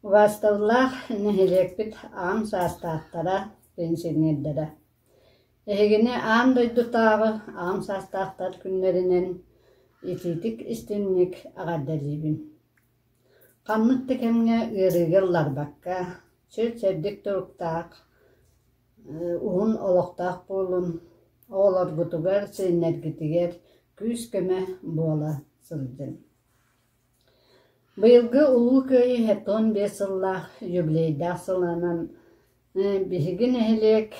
Убаасталлаах нэһилиэкпит аҕам саастаахтара, пенсионердара! Эһигини аан дойдутааҕы аҕам саастаахтар күннэринэн итиитик-истинник эҕэрдэлиибин! Ханнык да кэмҥэ ыарыыга ылларбакка, сир-сэрдик туруктаах, уһун олохтоох буолун, оҕолоргутугар, сиэннэргитигэр күүс-көмө буола сылдьын. Быйылгы Улуу Кыайыы сэттэ уон биэс сыллаах юбилейдаах сылынан биһиги нэһилиэк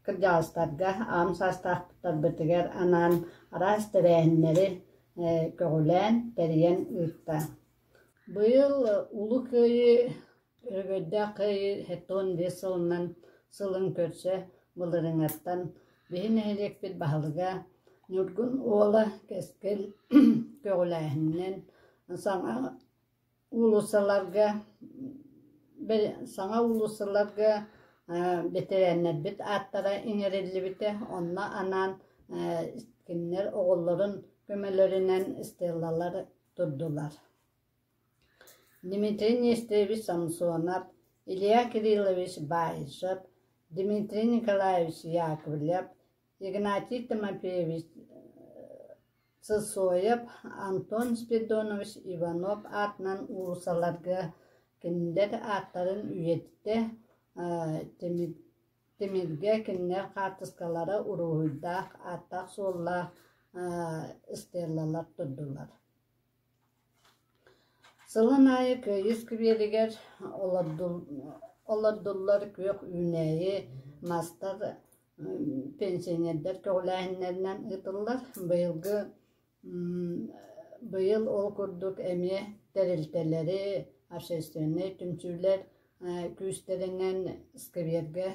Кырдьаҕастарга аҕам саастаахтарбытыгар анаан араас тэрээһиннэри көҕүлээн, тэрийэн ыытта. Быйыл Улуу Кыайыы өрөгөйдөөх кыайыы тоҕус биэс сылынан сылын көрсө былырыҥаттан биһи нэһилиэкпит баһылыга Ньургун Уола Кэскил көҕүлээһининэн саҥа Уулуссаларга саҥа уулуссаларга бэтэрээннэрбит ааттара иҥэриллибитэ, онно анаан кинилэр оҕолорун көмөлөрүнэн стеллалар турдулар. Дмитрий Нестерович Самсонов, Илья Кириллович Баишев, Дмитрий Николаевич Яковлев, Игнатий Тимофеевич Сысоев Антон Спиридонович Иванов аатынан уулуссаларга кинилэр ааттарын үйэтитэ, Тимиргэ кинилэр хаартыскалара уруһуйдаах, ааттаах-суоллаах стеллалар турдулар Сылын аайы Кыайыы искибиэригэр олордуллар күөх үүнээйи, мастар, пенсионердар көҕүлээһиннэринэн ыытыллар. Быйылгы быйыл ол курдук эмиэ тэрилтэлэри, общественнай түмсүүлэр күүстэринэн искибиэргэ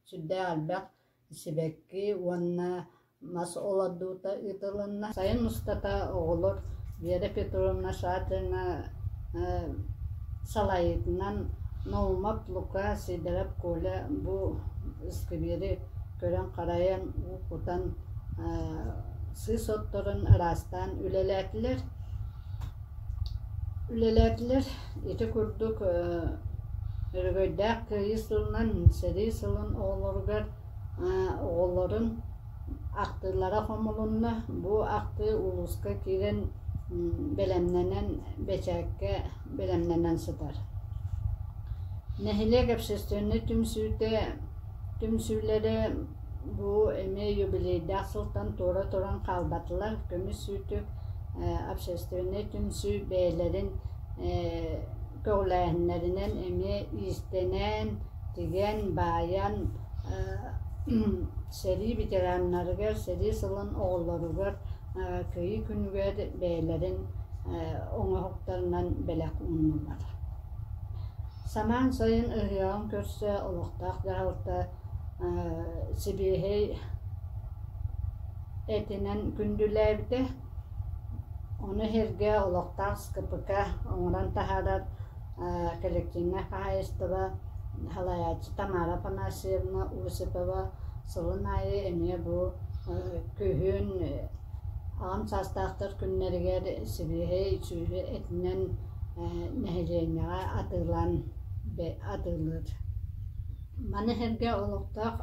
Сүрдээх элбэх сибэкки уонна мас олордуута ыытылынна. Сайын устата оҕолор Вера Петровна Шатрина салайыытынан Наумов Лука, Сидоров Коля бу сквери көрөн-харайан, уу кутан сыыс отторун араастаан үлэлээтилэр. Үлэлээтилэр. Ити курдук өрөгөйдөөх кыайыы сылынан сэрии сылын оҕолоругар оҕолорун ахтыылара хомулунна. Бу ахтыы улууска киирэн бэлэмнэнэн бэчээккэ бэлэмнэнэн сытар. Нэһилиэк общественнай түмсүүтэ түмсүүлэрэ Бу эмиэ юбилейдаах сылтан туора туран хаалбатылар, көмүс үүтү, общественнай түмсүү бэйэлэрин көҕүлээһиннэринэн эмиэ иистэнэн, тигэн, баайан сэрии ветераннарыгар, сэрии сылын оҕолоругар кыайыы күнүгэр бэйэлэрин оҥоһуктарынан бэлэх ууннулар. Самаан сайын ыһыаҕын көрсө олохтоох дьаһалта сибиэһэй этинэн күндүлээбитэ. Ону иһэргэ олохтоох СКПК оҥорон таһаарар коллективнай хаһаайыстыба салайааччы Тамара Афанасьевна Осипова сылын аайы эмиэ бу күһүн аҕам саастаахтар күннэригэр сибиэһэй сүүрэ этинэн нэһилиэнньэҕэ атыылаан атыылыыр Маны сэргэ олохтоох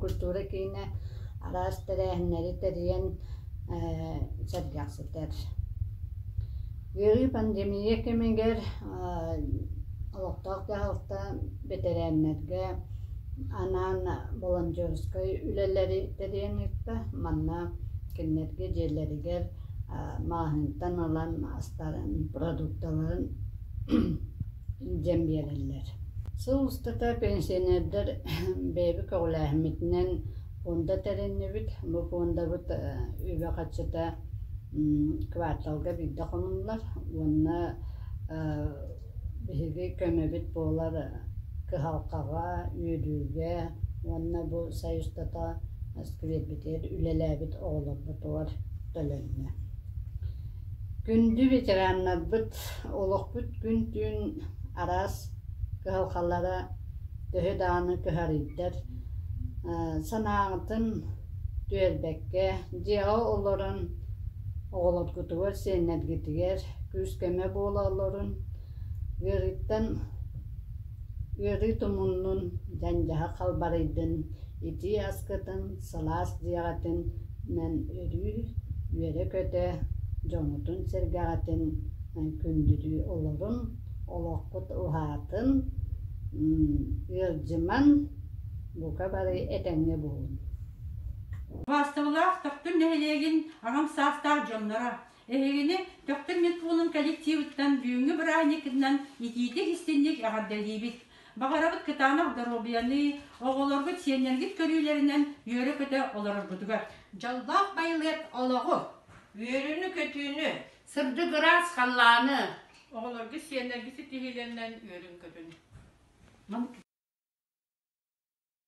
культура киинэ араас тэрээһиннэри тэрийэн сэргэхситэр. Үөрүү пандемия кэмигэр олохтоох дьаһалта бэтэрээннэргэ анаан волонтерскай үлэлэри тэрийэн ыытта. Манна кинилэргэ дьиэлэригэр мааһынтан ылан астарын, продукталарын диэн биэрэллэр. Сыл устата пенсионердар бэйэбит көҕүлээһиммитинэн пуонда тэриннибит. Бу пуондабыт үбэ-харчыта кварталга биирдэ хомуллар уонна биһиги көмөбүт буолар кыһалҕаҕа, үөрүүгэ уонна бу союзтата сквербитигэр үлэлээбит оҕолорбутугар төлөннө. Күндү ветераннарбыт, олохпут күн-түүн араас кыһалҕалара төһө даҕаны кыһарыйдар, санааҕытын түөрбэккэ, дьиэҕэ олорон оҕолоргутугар, сиэннэргитигэр күүс-көмө буола олорун, ыарыыттан, ыарыы тумуннун, дьандьаһа халбарыйдын, итии аскытын, сылаас дьиэҕитин Мэн өрүү үөрэ-көтө, дьоҥҥутун-сэргэҕитин күндүлүү олорун, олоххут уһаатын, ыалдьыман, бука бары этэҥҥэ буолун! Убаастабыллаах Төхтүр нэһилиэгин аҕам саастаах дьонноро! Эһигини Төхтүр медпуунун коллективыттан бүгүҥҥү бырааһынньыккытынан итиитик-истиҥник эҕэрдэлиибит! Баҕарабыт кытаанах доруобуйаныы, оҕолоргут, сиэннэргит көрүүлэринэн үөрэ-көтө олороргутугар! Дьоллоох байылыат олоҕу, үөрүүнү-көтүүнү, сырдыгыраас халлааны! Оҕолоргут, сиэннэргит ситиһиилэринэн үөрүн-көтүн!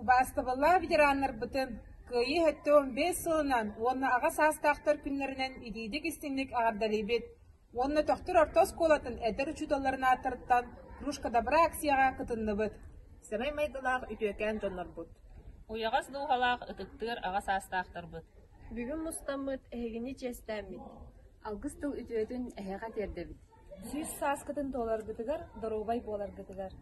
Убаастабыллаах ветераннарбытын Кыайыы өттө он бес сылынан уонна аҕа саастаахтар күннэринэн илиитик-истиҥник аҕардалыыбыт уонна төхтүр орто оскуолатын эдэр учууталларын ааттарыттан «Кружка добра» акцияҕа кытынныбыт. Сэмэй майгылаах үтүөкээн дьоннорбут! Уйаҕас дууһалаах ытыктыыр аҕа саастаахтарбыт! Бүгүн мустаммыт, эһигини чиэстээммит, алгыс тыл үтүөтүн эһиэхэ тиэрдэбит. Сүүс сааскытын туоларгытыгар, доруобай буоларгытыгар.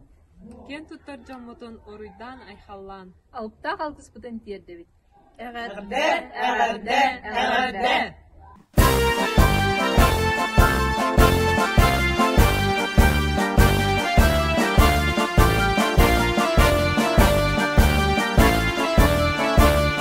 Киэн туттар дьоммутун уруйдаан-айхаллаан, алыптаах алгыспытын тиэрдэбит. Эҕэрдэ, эҕэрдэ, эҕэрдэ!